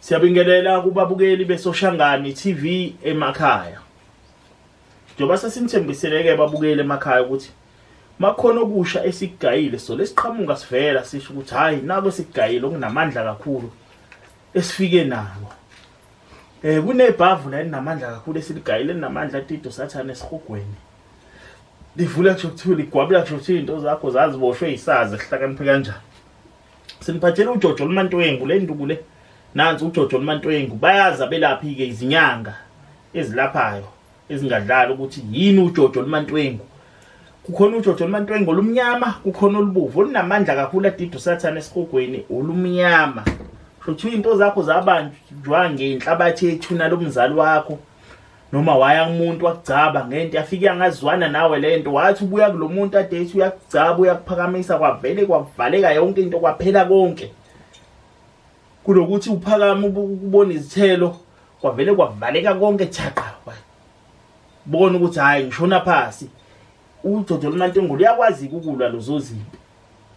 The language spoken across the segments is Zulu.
Siyabingelela kubabukeli besoshangani TV emakhaya. Njengoba sesimthembiseleke ababukeli emakhaya ukuthi makhona okusha esigayile so lesiqhamuka sivela sisho ukuthi hayi nako esigayile okunamandla kakhulu esifike nako. Eh kunebhavu la elinamandla kakhulu esiligayile linamandla atido sathane esihogweni. Livula kusho ukuthi ligwabula kusho ukuthi into zakho zaziboshwe yisazi sihlakaniphe kanjani. Siniphathele uJojo luMantwengu le nduku le. Nansi uJojo luMantwengu bayaza belaphi ke izinyanga ezilaphayo. ezingadlala ukuthi yini ujojo olumantwengu kukhona ujojo olumantwengu olumnyama kukhona olubovu olunamandla kakhulu adida usathane esigogweni olumnyama shothi into zakho zabanjwa ngenhlabathi ethuna lomzali wakho noma waya kumuntu wakugcaba ngento yafike yangazwana nawe lento wathi ubuya kulomuntu ade ethi uyakugcaba uyakuphakamisa kwavele kwavaleka yonke into kwaphela konke kunokuthi uphakame ukubona izithelo kwavele kwavaleka konke thaqa bona ukuthi hayi ngishona phasi udodo lumantengulo uyakwazi ukulwa lozo zimpi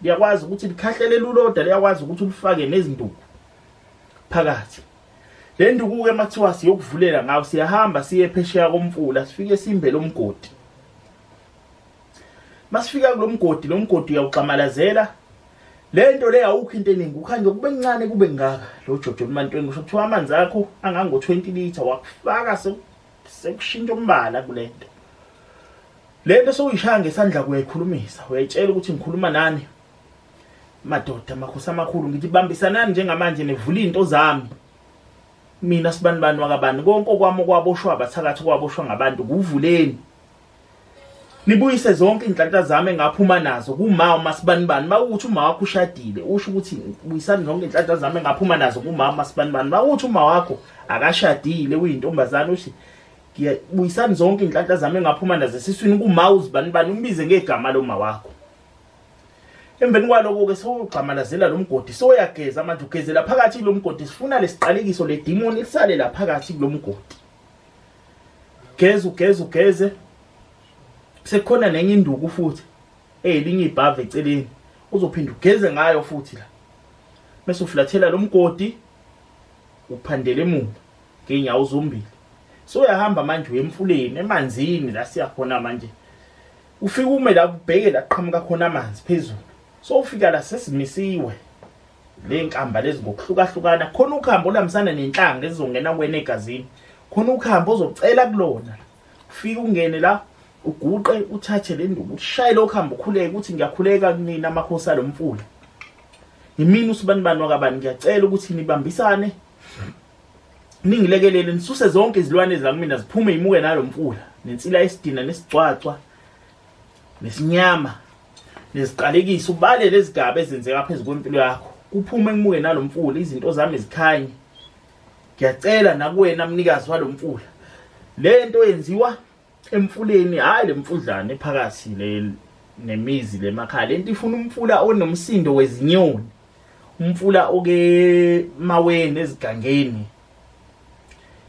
liyakwazi ukuthi likhahlele luloda liyakwazi ukuthi ulifake nezinduku phakathi le nduku-ke makuthiwa siyokuvulela ngawo siyahamba siye phesheya komfula sifike simbe lo mgodi masifika kulo mgodi lo mgodi uyawugxamalazela Le nto le awukho into eningi ukhanje kube kuncane kube ngaka lo jojo lomantweni kusho kuthiwa amanzi akho angango 20 liter wakufaka sekushintsha umbala kule nto le nto sewuyishaya ngesandla kuyayikhulumisa uyayitshela ukuthi ngikhuluma nani madoda makhosi amakhulu ngithi bambisanani njengamanje nivula into zami mina sibani bani wakabani konke okwami okwaboshwa abathakathi kwaboshwa ngabantu kuvuleni nibuyise zonke inhlanhla zami engaphuma nazo kuma umasibani bani mawuthi uma wakho ushadile usho ukuthi buyisani zonke inhlanhla zami engaphuma nazo kuma umasibani bani mawuthi uma wakho akashadile uyintombazana uthi ngiyabuyisani zonke inhlanhla zami engaphuma nazo esiswini kuma uzibani bani umbize ngegama loma wakho emveni kwaloko ke sowugxamalazela lo mgodi soyageza manje ugezela phakathi lo mgodi sifuna lesiqalekiso le demon lisale la phakathi kulo mgodi geza ugeza ugeze sekukhona nenye induku futhi eyelinye ibhava eceleni uzophinda ugeze ngayo futhi la bese uflathela lo mgodi uphandele emuva ngeenyawo zombili so uyahamba manje uye emfuleni emanzini la siya khona manje ufike ume la ubheke la qhamuka khona amanzi phezulu so ufika la sesimisiwe le nkamba lezi ngokuhlukahlukana khona ukuhamba olambisana nenhlanga ezizongena kuwena egazini khona ukuhamba ozocela kulona ufike ungene la uguqe uthathe le nduku ushaye lokhu hamba ukhuleke ukuthi ngiyakhuleka kunina amakhosi alo mfula yimini usibani bani wakabani ngiyacela ukuthi nibambisane ningilekelele nisuse zonke izilwane ezilakumina ziphume yimuke nalo mfula nensila yesidina nesigcwagcwa nesinyama neziqalekise ubale lezigaba ezenzeka phezu kwempilo yakho kuphume kumuke nalomfula izinto zami zikhanye ngiyacela nakuwena mnikazi walomfula lento yenziwa emfuleni hayi lemfudlana ephakathi le nemizi lemakhaya lento ifuna umfula onomsindo wezinyoni umfula oke maweni ezigangeni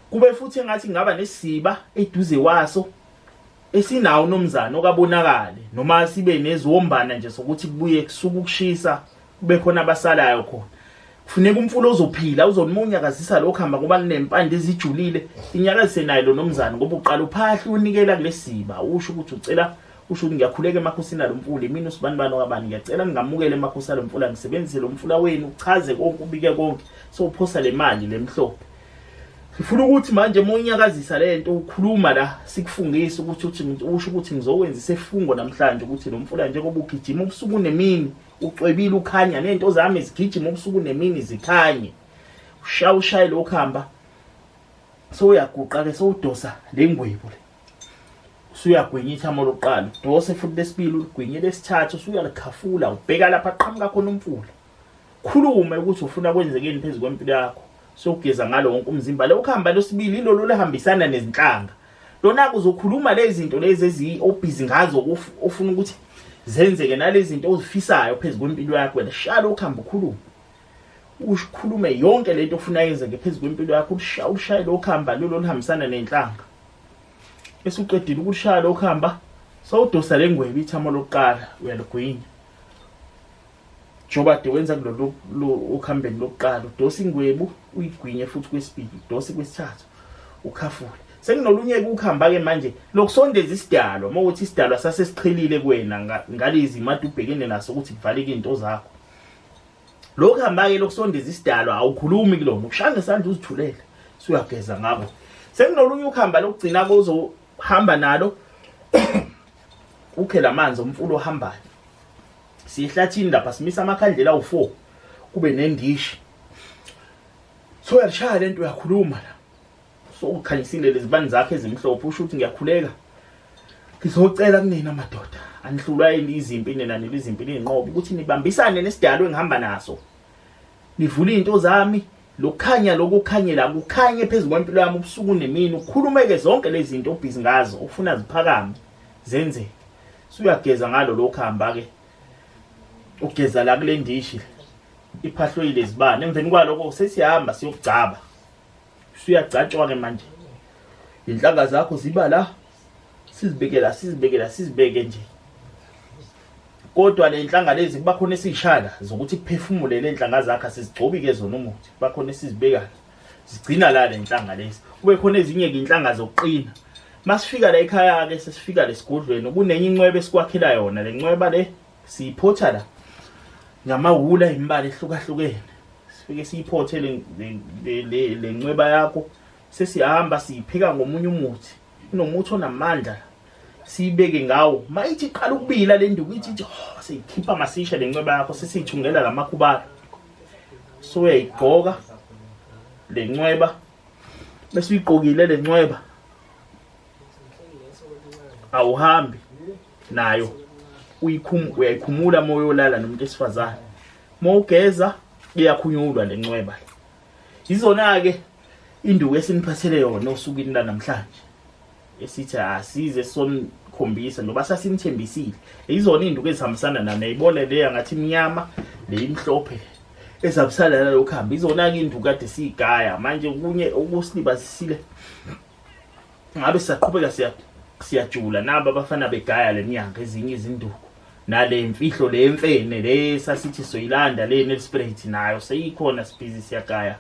kube futhi engathi ngaba nesiba eduze waso esinawo nomzana okabonakali noma sibe neziwombana nje sokuthi kubuye kusuka ukushisa kube khona abasalayo khona kufuneka umfula ozophila uzonimunya kazisa lokho hamba ngoba linempande ezijulile inyakazise naye lo nomzana ngoba uqala uphahla unikela kulesiba usho ukuthi ucela usho ukuthi ngiyakhuleka emakhosini alo mfula imini usibani bani okabani ngiyacela ningamukele emakhosini alo mfula ngisebenzise lo mfula wenu uchaze konke ubike konke sowuphosa le mali le mhlophe Ngifuna ukuthi manje uma unyakazisa le nto ukhuluma la sikufungise ukuthi uthi usho ukuthi ngizokwenza isefungo namhlanje ukuthi lo mfula njengoba ugijima ubusuku nemini ucwebile ukhanya nento zami zigijima ubusuku nemini zikhanye ushaya ushaye lo khamba sowuyaguqa ke sowudosa le ngwebu le usuyagwinya ithamo lokuqala udose futhi lesibili uligwinye lesithathu usuyalikhafula ubheka lapha qhamuka khona umfula khulume ukuthi ufuna kwenzekeni phezu kwempilo yakho sokugeza ngalo wonke umzimba le ukuhamba losibili ilolo lehambisana nezinhlanga lona kuzokhuluma lezi zinto lezi eziyi-obhizi ngazo ofuna ukuthi zenzeke nalezi zinto ozifisayo phezu kwempilo yakho wena shala ukuhamba ukhulume ukhulume yonke lento ofuna yenzeke phezu kwempilo yakho ulushaye lo kuhamba lolo luhambisana nenhlanga bese uqedile ukushaya lo kuhamba sawudosa le ngwebi ithamo lokuqala uyalugwinya njengoba de wenza kulolu okuhambeni lokuqala udose ingwebu uyigwinye futhi kwesibili udose kwesithathu ukhafule senginolunye-ke ukuhamba-ke manje lokusondeza isidalwa uma ukuthi isidalwa sasesiqhelile kuwena ngalezi mati ubhekene naso ukuthi kuvaleke izinto zakho lokhu hamba-ke lokusondeza isidalwa awukhulumi kulona ukushaya ngesandla uzithulele suyageza ngako senginolunye ukuhamba lokugcina kozohamba nalo ukhe la manzi omfula ohambayo siyehlathini lapha simisa amakhandlela awu-four kube nendishi so uyalishaya le nto uyakhuluma la so ukhanyisile lezibani zakhe ezimhlophe usho ukuthi ngiyakhuleka ngizocela kunina madoda anihlulwa yini izimpi nina nile izimpi niyinqobe ukuthi nibambisane nesidalwe engihamba naso nivule izinto zami lokukhanya lokukhanyela kukhanye phezu kwempilo yami ubusuku nemini ukhulumeke zonke lezi zinto obhizi ngazo ufuna ziphakame zenzeke suyageza ngalo lokhu hamba ke ugeza la kule ndishi iphahloyile izibane emveni kwaloko sesihamba siyokugcaba suyagcatshwa ke manje inhlanga zakho ziba la sizibekela sizibekela sizibeke nje kodwa le nhlanga lezi kuba khona esiyishaya zokuthi kuphefumule le nhlanga zakhe sizigcobi-ke zona umuthi kuba khona esizibekayo zigcina la le nhlanga lezi kube khona ezinye-ke inhlanga zokuqina masifika la ekhaya-ke sesifika lesigodlweni kunenye incwebe esikwakhela yona le ncweba le siyiphotha la ngamawula imibala ehlukahlukene sifike siyiphothe le ncweba yakho sesihamba siyipheka ngomunye umuthi kunomuthi onamandla siyibeke ngawo mayithi iqala ukubila le nduku ithi ithi oh, siyikhipha masisha le ncweba yakho sesiyithungela la makhubala so uyayigqoka le ncweba bese uyigqokile le ncweba awuhambi nayo uyikhum uyayikhumula moyo olala nomuntu esifazane mowugeza iyakhunyulwa le ncweba Yizona-ke induku esiniphathele yona osukwini lanamhlanje esithi asize sonikhombisa noba sasinithembisile yizona iy'nduku ezihambisana nani yayibona leya ngathi imnyama le imhlophe ezihambisana nalokhu hamba izona-ke iy'nduku kade siyigaya manje okunye okusilibazisile ngabe saqhubeka siya siyajula nabo abafana begaya lenyanga ezinye izinduku nale mfihlo le mfene le sasithi soyilanda le nelspirit nayo seyikhona sibhizi siyagaya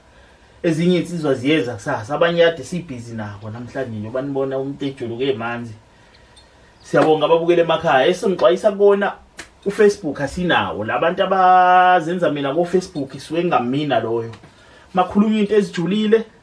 ezinye insizwa ziyeza kusasa abanye yade sibhizi nabo namhlanje nje banibona umuntu ejuluke emanzi siyabonga ababukele emakhaya esingixwayisa kona ufacebook asinawo labantu abazenza mina kofacebook isuke ngamina loyo makhuluma into ezijulile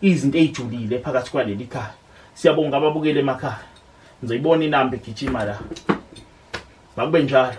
izinto eyijulile phakathi kwaleli khaya siyabonga ababukeli emakhaya ngizoyibona inamba igijima la makube njalo